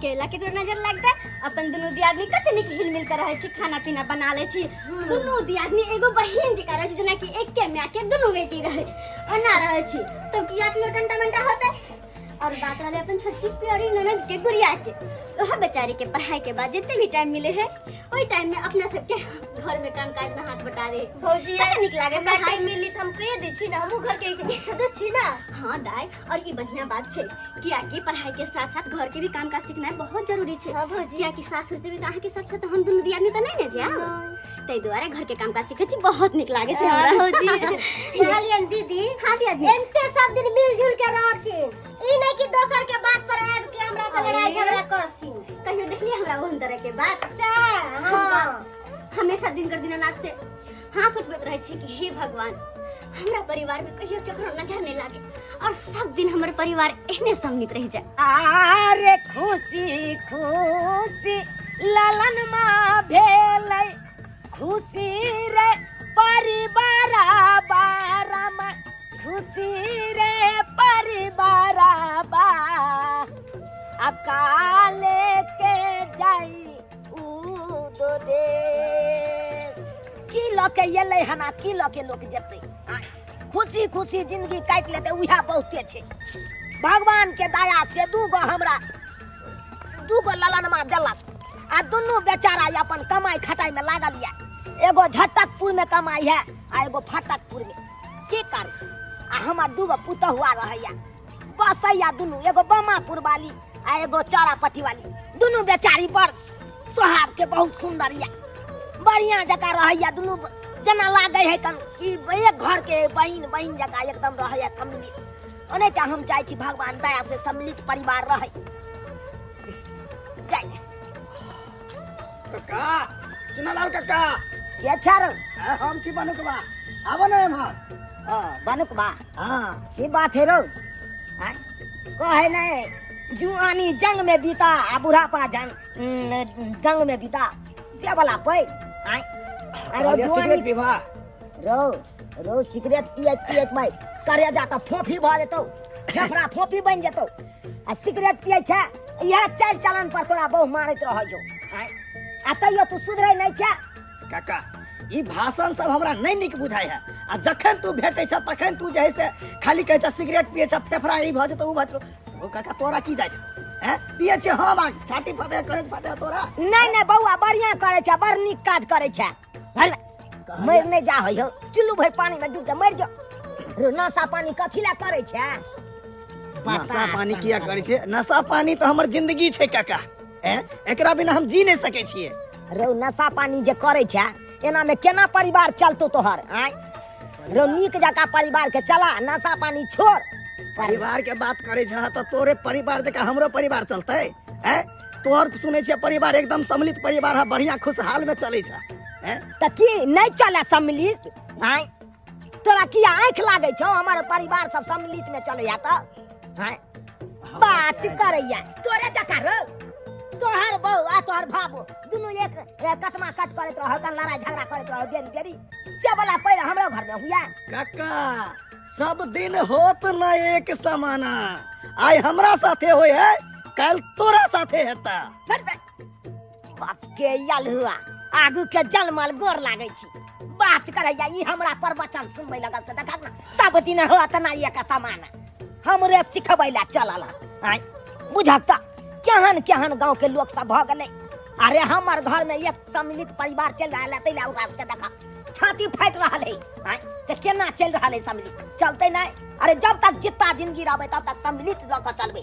केला केकरो नजर लगता अपन दुनू दियादनी कते नीक हिलमिल कर रहे छी खाना पीना बना ले छी दुनू दियादनी एगो बहिन जी कर रहे छी जेना कि एके माय के दुनू बेटी रहे ओना रहे छी तो किया कियो टंटा मंटा होते और बात वाले अपन छोटकी प्यारी ननद के गुड़िया के वह बेचारी के पढ़ाई के बाद जितने भी टाइम मिले है वही टाइम में अपना सबके घर में काम काज में हाथ बटा दे भौजी कते नीक लागे हमरा पढ़ाई टाइम मिली त हम कह दै छी ना हमहूँ घरके एक सदस्य छी ना हाँ दाई और ये बढ़िया बात छे किया कि पढ़ाई के साथ साथ घर के भी काम काज सीखना बहुत जरूरी छे हाँ भौजी। किया कि सासुर से भी अहाँ के साथ साथ हम दुनू दियादनी तो नहीं ने जाओ तै द्वारे घर के काम काज सीखे छी बहुत निक लागे छे हाँ, हमरा भौजी। कहलियन दीदी हाँ दियादनी एनते सब दिन मिलजुल के रहथिन ई नहीं कि दोसर के बात पर आब के हमरा से लड़ाई अरे। झगड़ा करथिन कहियो देखलिए हमरा ओहन तरह के बात से हाँ। हम हमेशा दिन कर दिनानाथ से हाथ उठबैत रहै छी कि हे भगवान हमरा परिवार में कहियो केकरो नजर नहीं लागे और सब दिन हमर परिवार एहने सम्मित रह जाए आरे खुशी खुशी ललन माँ भेलै खुशी रे परिवार बारम खुशी रे परिवार बा अकाले के जाई उदो दे की लऽ के एलै हन आ की लऽ के लोक जेतै आँय, खुशी खुशी जिंदगी काटि लेतै उएह बहुते छै भगवान के दया से दू गो हमरा दू गो ललनमा देलक आ दुनू बेचारा ये अपन कमाई खटाई में लागल ये एगो झटकपुर में कमाई है आ एगो फटकपुर में की करू आ हमर दू गो पुतहुआ रहैया बसैया दुनू एगो बमापुर वाली आ एगो चौरापट्टी वाली दुनू बेचारी बड़ स्वभाव के बहुत सुंदर या बढ़िया जगह रहैया दुनू ब- जेना लागे है कन कि एक घर के बहिन बहिन जगह एकदम रहैया सम्मिलित ओने का हम चाहे छी भगवान दया से सम्मिलित परिवार रहे जाय कक्का चुनालाल कक्का के छारो हम छी बनू के बा आबो ना एम्हर हाँ, बनू के बा हाँ की बात है रो आय, कहे नहीं जुआनी जंग में बीता आ बुढ़ापा जंग न, जंग में बीता से वाला पै आय अरे कहलियै जुआनी सिगरेट पीबा रो रो सिगरेट पियत पियत भाई करे जा तऽ फोफी भऽ जेतौ फेफड़ा फोफी बनि जेतौ आ सिगरेट पियै छै इएह चालि चलन पर तोरा बहु मारैत रहै छौ आँय? आ तैयो तू सुधरै नहि छै काका ई भाषण सब हमरा नहीं निक बुझाय है आ जखन तू भेटे छ तखन तू जे है से खाली कहे छ सिगरेट पिए छ फेफड़ा ई भ जेतो उ भ जेतो ओ काका तोरा की जाय छ हैं पिए छ हम आ छाती फटे करे फटे तोरा नहीं नहीं बउआ बढ़िया करे छे बड़ निक काज करे छे भल मर नहीं जा हो चुल्लू भर पानी में डूब के मर जा रो नशा पानी कथी ला करे छे नशा पानी किया करे छे नशा पानी तो हमर जिंदगी छे काका हैं एकरा बिना हम जी नहीं सके छिए रौ नशा पानी जे करै छै एनामे केना परिवार चलतौ तोहर आय रौ नीक जकाँ परिवारके चला नशा पानी छोड़ परिवार के बात करे छ तो तोरे परिवार जका हमरो परिवार चलते हैं तोहर सुने छियै परिवार एकदम सम्मिलित परिवार है बढ़िया खुशहाल में चले छ हैं तऽ की नहि चले सम्मिलित आय तोरा की आँख लागै छौ हमर परिवार सब सम्मिलित में चलैया तऽ हैं? बात करैया तोरे जका रो तोहर बहू आ तोहर भाबो दुनू एक ए, कटमा कट करैत रहो कन लड़ाई झगड़ा करैत रहो बेरी बेरी से बोला पहिले हमरो घर में हुआ काका सब दिन होत न एक समाना आइ हमरा साथे होय है कल तोरा साथे हेता बड़ बड़ बाप के यल हुआ आगू के जलमल गोर लागै छी बात करैया ई हमरा प्रवचन सुनबै लगल से देखक ना सब दिन हो तना ये का समान हमरे सिखबै ला चलल हन। आय बुझक त केहन केहन गांव के लोग सब भ गेलै अरे हमर घर में एक सम्मिलित परिवार चल रहल है तैला ओकरा सबके देखा छाती फाटि रहल है आय से केना चल रहल है सम्मिलित चलते नहीं अरे जब तक जितना जिंदगी रहबै तब तक सम्मिलित रह के चलबै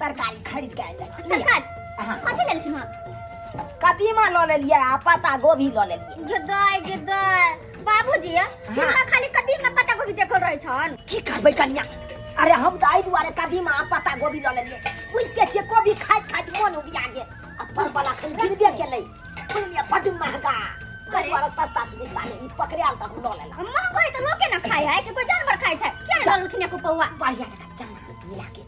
तरकारी खरीद के आइल सरकार हाँ। कथी लेल छी हम कदीमा लऽ लेलियै आ पत्ता गोभी लऽ लेलियै गेदाय गेदाय बाबूजी हमरा खाली कदीम में पत्ता गोभी देखल रहै छन की करबै कनिया अरे हम तऽ एहि दुआरे कदीमा आ पत्ता गोभी लऽ लेलियै बुझिते छियै कोबी खाइत खाइत मोन उबिया गेल आ परवल अखन गिरबे केलै बुझलियै बड्ड महगा ताहि दुआरे सस्ता सुविस्ता नहि ई पकड़ायल तऽ हम लऽ लेलहुँ हम महंगो है तो लोके ना खाय है कि कोई जानवर खाय छै क्या जानलखिन एको पौआ बढ़िया जगह चना मिला के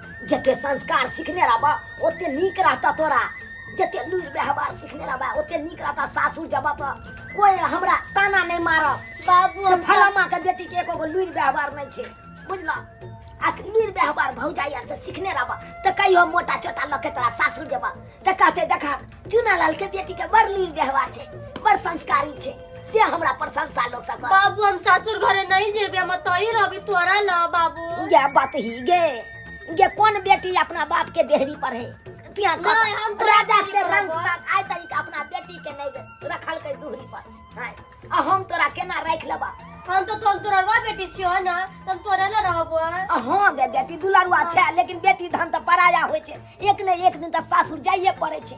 जते संस्कार सीखने रहबा ओते नीक रहता तोरा जते लूर व्यवहार सीखने रहबा ओते नीक रहता सासुर जबा तो कोई हमरा ताना नहीं मारब बाबू से हम फलामा के बेटी के एको गो लूर व्यवहार नहीं छे बुझला आ लूर व्यवहार भौजाई आर से सीखने रहबा तो कहियो मोटा चोटा लके तोरा सासुर जबा देखा ते देखा चुनालाल के बेटी के बड़ लील व्यवहार छै बड़ संस्कारी छै से हमरा प्रशंसा लोग सब बाबू हम सासुर घरे नहीं जेबे हम तोही रहबी तोरा ल बाबू गे बात ही गे गे कोन बेटी अपना बाप के देहरी पर है तिया का नहीं, हम तो राजा देहरी से पर रंग हबो। तक आय तरीका अपना बेटी के नहीं रखल के दूहरी पर हाय आ हम तोरा केना राखि लेबा हम तो तोर तोरवा बेटी छियो ना तब तोरा ना रहबो आ हँ गे बेटी दुलरुआ छै लेकिन बेटी धन तऽ पराया होइ छै एक ने एक दिन तऽ सासुर जाइए पड़ै छै